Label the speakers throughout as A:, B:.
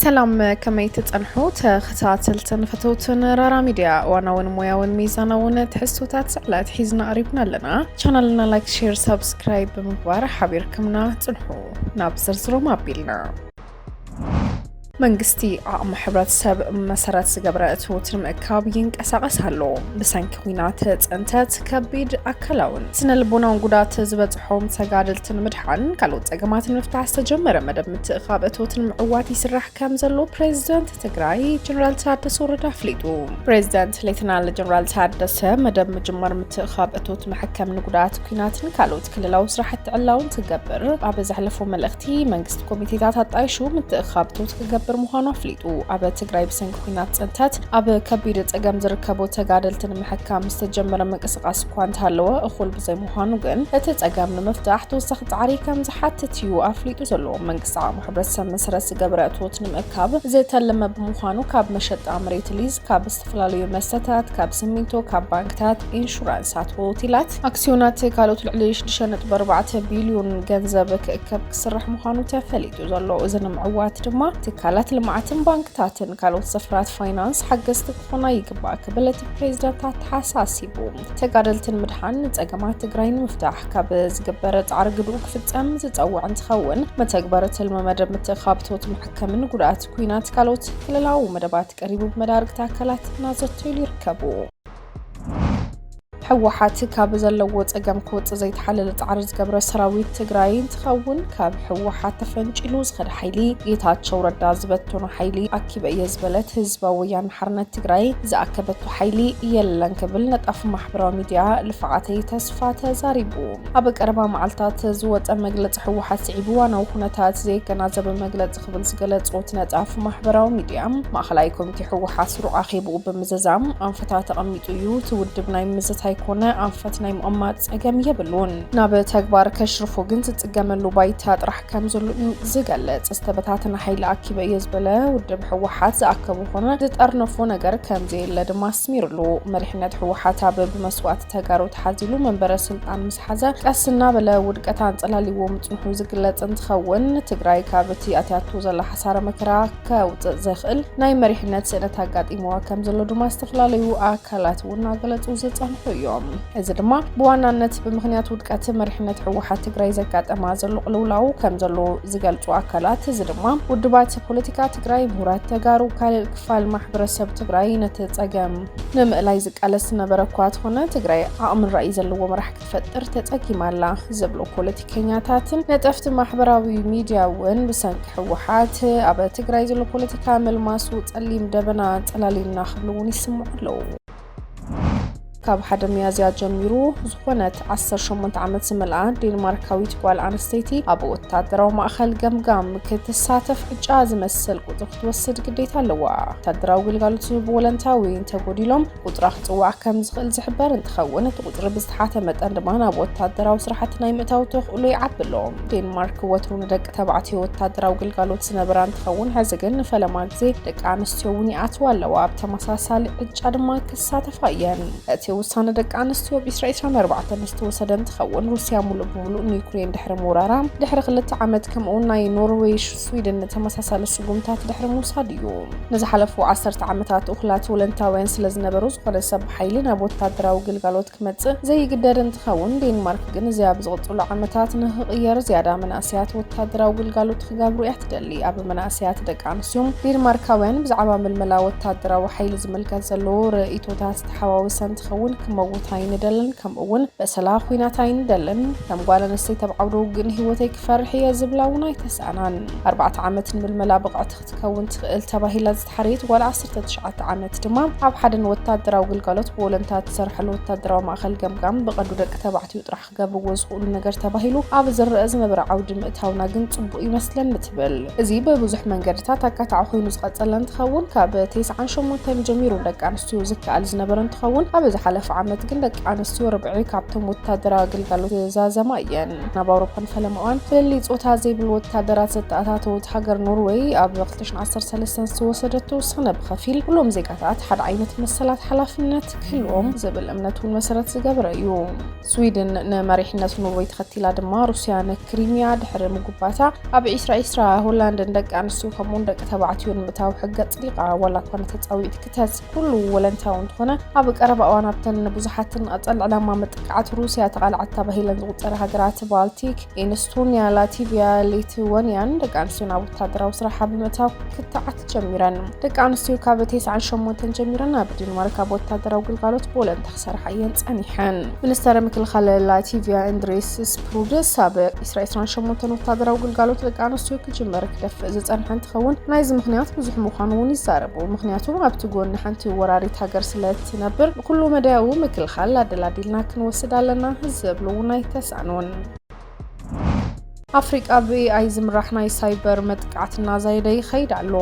A: ሰላም ከመይ ትጸንሑ ተኸታተልትን ፈተውትን ራራ ሚድያ እዋናውን ሞያውን ሚዛናውን ትሕዝቶታት ዕለት ሒዝና ቀሪብና ኣለና ቻናልና ላይክ ሼር ሳብስክራይብ ብምግባር ሓቢርክምና ጽንሑ ናብ ዝርዝሮም ኣቢልና መንግስቲ ዓቕሚ ሕብረተሰብ መሰረት ዝገበረ እትውት ንምእካብ ይንቀሳቐስ ኣሎ። ብሰንኪ ኲናት ተጸንተት ከቢድ ኣካላውን ስነ ልቦናውን ጉዳት ዝበጽ ሖም ተጋደልቲ ንምድሓን ካልኦት ጸገማት ንምፍታሕ ዝተጀመረ መደብ ምትእኻብ እቶት ንምዕዋት ይስራሕ ከም ዘሎ ፕሬዚደንት ትግራይ ጀነራል ታደሰ ወረደ ኣፍሊጡ። ፕሬዚደንት ሌተናል ጀነራል ታደሰ መደብ ምጅማር ምትእኻብ እቶት መሐከም ንጉዳት ኩናትን ካልኦት ክልላዊ ስራሕቲ ዕላውን ትገብር ኣብ ዘሕለፎ መልእኽቲ መንግስቲ ኮሚቴታት ኣጣይሹ ምትእኻብ እቶት ክገብር ምዃኑ ኣፍሊጡ። ኣብ ትግራይ ብሰንኪ ኩናት ፅንተት ኣብ ከቢድ ፀገም ዝርከቡ ተጋደልቲ ንምሕካም ዝተጀመረ ምንቅስቃስ እኳ እንተሃለወ እኹል ብዘይ ምዃኑ ግን እቲ ጸገም ንምፍታሕ ተወሳኺ ጻዕሪ ከም ዝሓትት እዩ ኣፍሊጡ ዘሎ። መንግስቲ ዓቕሚ ሕብረተሰብ መሰረት ዝገበረ እቶት ንምእካብ ዝተለመ ብምዃኑ ካብ መሸጣ መሬት ሊዝ፣ ካብ ዝተፈላለዩ መስተታት፣ ካብ ስሚንቶ፣ ካብ ባንክታት፣ ኢንሹራንሳት፣ ሆቴላት፣ ኣክስዮናት ካልኦት ልዕሊ 6.4 ቢልዮን ገንዘብ ክእከብ ክስራሕ ምዃኑ ተፈሊጡ ዘሎ። እዚ ንምዕዋት ድማ ትካላት ልምዓትን ባንክታትን ካልኦት ዘፈራት ፋይናንስ ሓገዝቲ ክኾና ይግባእ ክብል እቲ ፕሬዚዳንት ኣተሓሳሲቡ። ተጋደልቲ ንምድሓን ንፀገማት ትግራይ ንምፍታሕ ካብ ዝግበር ፃዕሪ ግድኡ ክፍፀም ዝፀውዕ እንትኸውን መተግበሪ ትልሚ መደብ ምትእኻብ ቶት መሕከምን ጉድኣት ኩናት ካልኦት ክልላዊ መደባት ቀሪቡ ብመዳርግቲ ኣካላት እናዘተይሉ ይርከቡ። ህወሓት ካብ ዘለዎ ፀገም ክወፅእ ዘይተሓለለ ፃዕሪ ዝገብረ ሰራዊት ትግራይ እንትኸውን ካብ ህወሓት ተፈንጪሉ ዝኸደ ሓይሊ ጌታቸው ረዳ ዝበተኖ ሓይሊ ኣኪበ እየ ዝበለት ህዝባዊ ወያነ ሓርነት ትግራይ ዝኣከበቶ ሓይሊ የለን ክብል ነጣፊ ማሕበራዊ ሚድያ ልፍዓተይ ተስፋ ተዛሪቡ። ኣብ ቀረባ መዓልታት ዝወፀ መግለፂ ህወሓት ስዒቡ ዋናዊ ኩነታት ዘየገናዘበ መግለፂ ክብል ዝገለፆ እቲ ነጣፊ ማሕበራዊ ሚድያ ማእኸላይ ኮሚቴ ህወሓት ስሩዕ ኣኼብኡ ብምዝዛም ኣንፈታት ተቐሚጡ እዩ። እቲ ውድብ ናይ ምዝታይ ኮነ ኣንፈት ናይ ምቕማጥ ፀገም የብሉን። ናብ ተግባር ከሽርፎ ግን ዝፅገመሉ ባይታ ጥራሕ ከም ዘሎ እዩ ዝገልጽ። ዝተበታተነ ሓይሊ ኣኪበ እየ ዝበለ ውድብ ህወሓት ዝኣከቦ ኮነ ዝጠርነፎ ነገር ከምዘየለ ድማ ኣስሚርሉ። መሪሕነት ህወሓት ኣብ ብመስዋእቲ ተጋሩ ተሓዚሉ መንበረ ስልጣን ምስ ሓዘ ቀስ እናበለ ውድቀት ኣንጸላሊዎ ምጽንሑ ዝግለጽ እንትኸውን ትግራይ ካብ እቲ ኣትያቶ ዘላ ሓሳረ መከራ ከውጽእ ዘኽእል ናይ መሪሕነት ስእነት ኣጋጢምዋ ከም ዘሎ ድማ ዝተፈላለዩ ኣካላት እውን እናገለጹ ዝጸንሑ እዮም። እዚ ድማ ብዋናነት ብምኽንያት ውድቀት መሪሕነት ህወሓት ትግራይ ዘጋጠማ ዘሎ ቅልውላው ከም ዘሎ ዝገልፁ ኣካላት እዚ ድማ ውድባት ፖለቲካ ትግራይ፣ ምሁራት ተጋሩ፣ ካልእ ክፋል ማሕበረሰብ ትግራይ ነቲ ፀገም ንምእላይ ዝቃለስ ዝነበረ እኳ ተኾነ ትግራይ ዓቕምን ራእይ ዘለዎ መራሕ ክትፈጥር ተፀጊማ ኣላ ዝብሉ ፖለቲከኛታትን ነጠፍቲ ማሕበራዊ ሚድያ እውን ብሰንኪ ህወሓት ኣብ ትግራይ ዘሎ ፖለቲካ መልማሱ ፀሊም ደበና ፀላሊልና ክብሉ እውን ይስምዑ ኣለዉ። ካብ ሓደ ሚያዝያ ጀሚሩ ዝኾነት 18 ዓመት ዝመልኣ ዴንማርካዊት ጓል ኣንስተይቲ ኣብ ወታደራዊ ማእኸል ገምጋም ክትሳተፍ ዕጫ ዝመስል ቁፅሪ ክትወስድ ግዴታ ኣለዋ። ወታደራዊ ግልጋሎት ዝህቡ ወለንታ ወይ እንተጎዲሎም ቁፅራ ክፅዋዕ ከም ዝኽእል ዝሕበር እንትኸውን እቲ ቁፅሪ ብዝተሓተ መጠን ድማ ናብ ወታደራዊ ስራሕቲ ናይ ምእታው ተኽእሎ ይዓቢ ኣሎ። ዴንማርክ ወትሩ ንደቂ ተባዕትዮ ወታደራዊ ግልጋሎት ዝነበራ እንትኸውን ሕዚ ግን ንፈለማ ግዜ ደቂ ኣንስትዮ ኣንስትዮ እውን ይኣትዋ ኣለዋ፣ ኣብ ተመሳሳሊ ዕጫ ድማ ክሳተፋ እየን። እቲ ውሳነ ደቂ ኣንስትዮ ብ 2024 ዝተወሰደ እንትኸውን፣ ሩስያ ሙሉእ ብሙሉእ ንዩክሬን ድሕሪ ምውራራ ድሕሪ ክልተ ዓመት ከምኡ'ውን ናይ ኖርዌይ፣ ስዊድን ተመሳሳሊ ስጉምታት ድሕሪ ምውሳድ እዩ። ንዝሓለፉ ዓሰርተ ዓመታት እኹላት ወለንታውያን ስለዝነበሩ ዝኾነ ሰብ ብሓይሊ ናብ ወታደራዊ ግልጋሎት ክመጽእ ዘይግደድ እንትኸውን፣ ዴንማርክ ግን እዚ ኣብ ዝቕጽሉ ዓመታት ንኽቕየር ዝያዳ መናእሰያት ወታደራዊ ግልጋሎት ክገብሩ እያ ትደሊ። ኣብ መናእሰያት ደቂ ኣንስትዮ ዴንማርካውያን ብዛዕባ ምልመላ ወታደራዊ ሓይሊ ዝምልከት ዘሎ ርእይቶታት ዝተሓዋወሰ እንትኸውን ክመውት ኣይንደልን ከምኡ እውን በሰላ ኩናት ኣይንደልን ከም ጓል ኣንስተይቲ ኣብ ዓውደ ውግእ ንህይወተይ ክፈርሕ እየ ዝብላ እውን ኣይተሰኣናን። ኣርባዕተ ዓመት ንምልመላ ብቕዕቲ ክትከውን ትኽእል ተባሂላ ዝተሓረየት ጓል ዓሰርተ ትሽዓተ ዓመት ድማ ኣብ ሓደ ንወታደራዊ ግልጋሎት ብወለንታ እትሰርሐሉ ወታደራዊ ማእኸል ገምጋም ብቐንዱ ደቂ ተባዕትዮ ጥራሕ ክገብርዎ ዝኽእሉ ነገር ተባሂሉ ኣብ ዝረኣ ዝነበረ ዓውዲ ምእታውና ግን ጽቡቕ ይመስለኒ ትብል። እዚ ብብዙሕ መንገድታት ኣካታዒ ኮይኑ ዝቐጸለ እንትኸውን ካብ ቴስዓን ሸሞንተን ጀሚሩ ንደቂ ኣንስትዮ ዝከኣል ዝነበረ እንትኸውን ኣብ ዝሓለፈ ዓመት ግን ደቂ ኣንስትዮ ርብዒ ካብቶም ወታደራዊ ግልጋሎት ዝዛዘማ እየን። ናብ ኣውሮፓን ፈለማዋን ፍልልይ ጾታ ዘይብሉ ወታደራት ዘተኣታተወት ሃገር ኖርወይ ኣብ ክልተ ሽሕን ዓሰርተ ሰለስተን ዝተወሰደቶ ውሳነ ብኸፊል ኩሎም ዜጋታት ሓደ ዓይነት መሰላት ሓላፍነት ክህልዎም ዝብል እምነት እውን መሰረት ዝገበረ እዩ። ስዊድን ንመሪሕነት ኖርወይ ተኸቲላ ድማ ሩስያ ንክሪሚያ ድሕሪ ምጉባታ ኣብ ዒስራ ዒስራ ሆላንድን ደቂ ኣንስትዮ ከምኡውን ደቂ ተባዕትዮ ንምእታው ሕገ ኣጽዲቓ ዋላ እኳ ንተጻዊት ክተት ኩሉ ወለንታዊ እንተኾነ ኣብ ቀረባ እዋን ኣብተን ብዙሓትን ንቐጸል ዕላማ መጥቃዕቲ ሩስያ ተቓልዓት ተባሂለን ዝቑጸረ ሃገራት ባልቲክ ኢንስቶንያ ላቲቪያ ሊትወንያን ደቂ ኣንስትዮ ናብ ወታደራዊ ስራሓ ብምእታው ክትዓት ጀሚረን ደቂ ኣንስትዮ ካብ 98 ጀሚረን ኣብ ዴንማርክ ኣብ ወታደራዊ ግልጋሎት ብወለንታ ክሰርሓ እየን ጸኒሐን። ሚኒስተር ምክልኻል ላቲቭያ እንድሪስ ስፕሩድስ ኣብ ኢስራ ዕስራን ሸሞንተን ወታደራዊ ግልጋሎት ደቂ ኣንስትዮ ክጅመር ክደፍእ ዝጸንሐ እንትኸውን ናይዚ ምኽንያት ብዙሕ ምዃኑ እውን ይዛረቡ። ምኽንያቱ ኣብቲ ጎኒ ሓንቲ ወራሪት ሃገር ስለ እትነብር ንኩሉ መዳያዊ ምክልኻል ኣደላዲልና ክንወስድ ኣለና ዝብሉ እውን ኣይተሳእኑን። ኣፍሪቃ ብኤኣይ ዝምራሕ ናይ ሳይበር መጥቃዕቲ እናዛየደ ይኸይድ ኣሎ።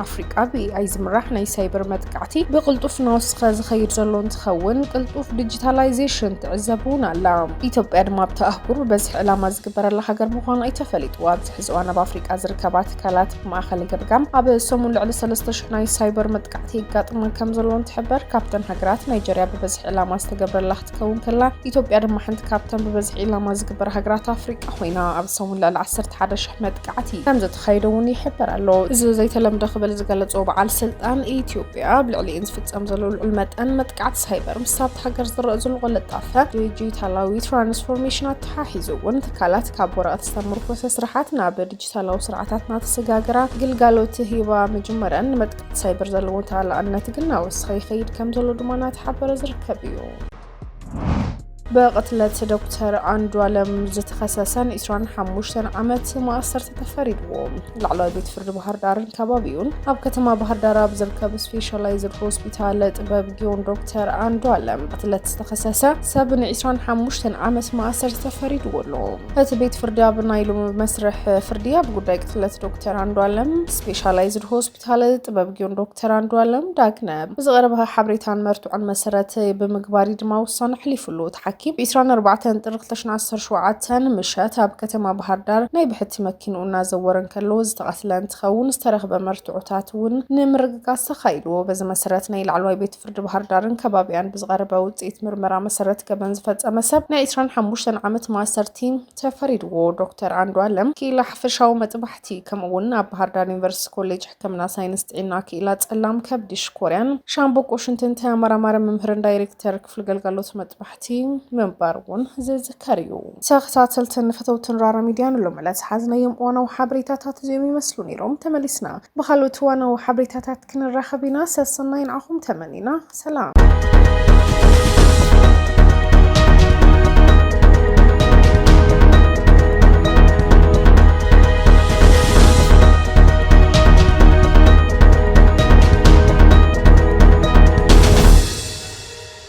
A: ኣፍሪቃ ብኤኣይ ዝምራሕ ናይ ሳይበር መጥቃዕቲ ብቕልጡፍ እናወስኸ ዝኸይድ ዘሎ እንትኸውን ቅልጡፍ ዲጂታላይዜሽን ትዕዘብ እውን ኣላ። ኢትዮጵያ ድማ ኣብቲ ኣህጉር ብበዝሒ ዕላማ ዝግበረላ ሃገር ምዃና እዩ ተፈሊጡ። ኣብዚ ሕዚ እዋን ኣብ ኣፍሪቃ ዝርከባ ትካላት ብማእኸል ገምጋም ኣብ ሰሙን ልዕሊ 3,000 ናይ ሳይበር መጥቃዕቲ የጋጥመን ከም ዘለዎን ትሕበር። ካብተን ሃገራት ናይጀርያ ብበዝሒ ዕላማ ዝተገብረላ ክትከውን ከላ ኢትዮጵያ ድማ ሓንቲ ካብተን ብበዝሒ ዒላማ ዝግበር ሃገራት ኣፍሪቃ ኮይና ኣብዚ ሰሙን ልዕሊ 11 ሽሕ መጥቃዕቲ ከም ዘተኻየደ እውን ይሕበር ኣሎ። እዚ ዘይተለምደ ክብል ዝገለጾ በዓል ስልጣን ኢትዮጵያ ኣብ ልዕሊኤን ዝፍጸም ዘሎ ልዑል መጠን መጥቃዕቲ ሳይበር ምስ ኣብቲ ሃገር ዝረእ ዘሎ ቅልጣፈ ዲጂታላዊ ትራንስፎርሜሽን ኣተሓሒዙ እውን ትካላት ካብ ወረቐት ዝተመርኮሰ ስራሓት ናብ ዲጂታላዊ ስርዓታት እናተሰጋገራ ግልጋሎት ሂባ ምጅመረን ሳይበር ዘለዎ ተላኣነት ግን ናወስኸ ይኸይድ ከም ዘሎ ድማ እናተሓበረ ዝርከብ እዩ ብቕትለት ዶክተር ኣንዱ ኣለም ዝተኸሰሰን 25 ዓመት ማእሰርቲ ተፈሪድዎ ላዕለዋይ ቤት ፍርዲ ባህር ዳርን ከባቢኡን ኣብ ከተማ ባህር ዳር ኣብ ዝርከብ ስፔሻላይዝድ ሆስፒታል ጥበብ ጊዮን ዶክተር ኣንዱ ኣለም ቅትለት ዝተኸሰሰ ሰብ ን25 ዓመት ማእሰርቲ ተፈሪድዎ ኣሎ እቲ ቤት ፍርዲ ኣብ ናይ ሎሚ መስርሕ ፍርዲ ኣብ ጉዳይ ስለት ዶክተር ኣንዱ ኣለም ስፔሻላይዝድ ሆስፒታል ጥበብ ጊዮን ዶክተር ኣንዱ ኣለም ዳግነ ብዝቐረበ ሓበሬታን መርትዖን መሰረት ብምግባር ድማ ውሳነ ኣሕሊፉሉ እቲ ሓኪም ብ24 ጥሪ 2017 ምሸት ኣብ ከተማ ባህር ዳር ናይ ብሕቲ መኪንኡ እናዘወረ እንከሎ ዝተቐትለ እንትኸውን ዝተረኽበ መርትዖታት እውን ንምርግጋፅ ተኻኢልዎ በዚ መሰረት ናይ ላዕለዋይ ቤት ፍርዲ ባህርዳርን ከባቢኣን ብዝቐረበ ውፅኢት ምርመራ መሰረት ገበን ዝፈፀመ ሰብ ናይ 25 ዓመት ማእሰርቲ ተፈሪድዎ። ዶክተር ኣንዷለም ክኢላ ሓፈሻዊ መጥባሕቲ ከምኡ እውን ኣብ ባህርዳር ዩኒቨርሲቲ ኮሌጅ ሕክምና ሳይንስ ጥዒና ክኢላ ፀላም ከብዲ ሽኮርያን ሻምብቆ ሽንትን ተመራማሪ መምህርን ዳይሬክተር ክፍሊ ገልጋሎት መጥባሕቲ እቲ ምንባር እውን ዝዝከር እዩ። ተኸታተልትን ፈተውትን ራራ ሚድያ ንሎሚ ዕለት ዝሓዝናዮም እዋናዊ ሓበሬታታት እዚኦም ይመስሉ ነይሮም። ተመሊስና ብኻልኦት እዋናዊ ሓበሬታታት ክንራኸብ ኢና። ሰሰናይ ንዓኹም ተመኒና። ሰላም።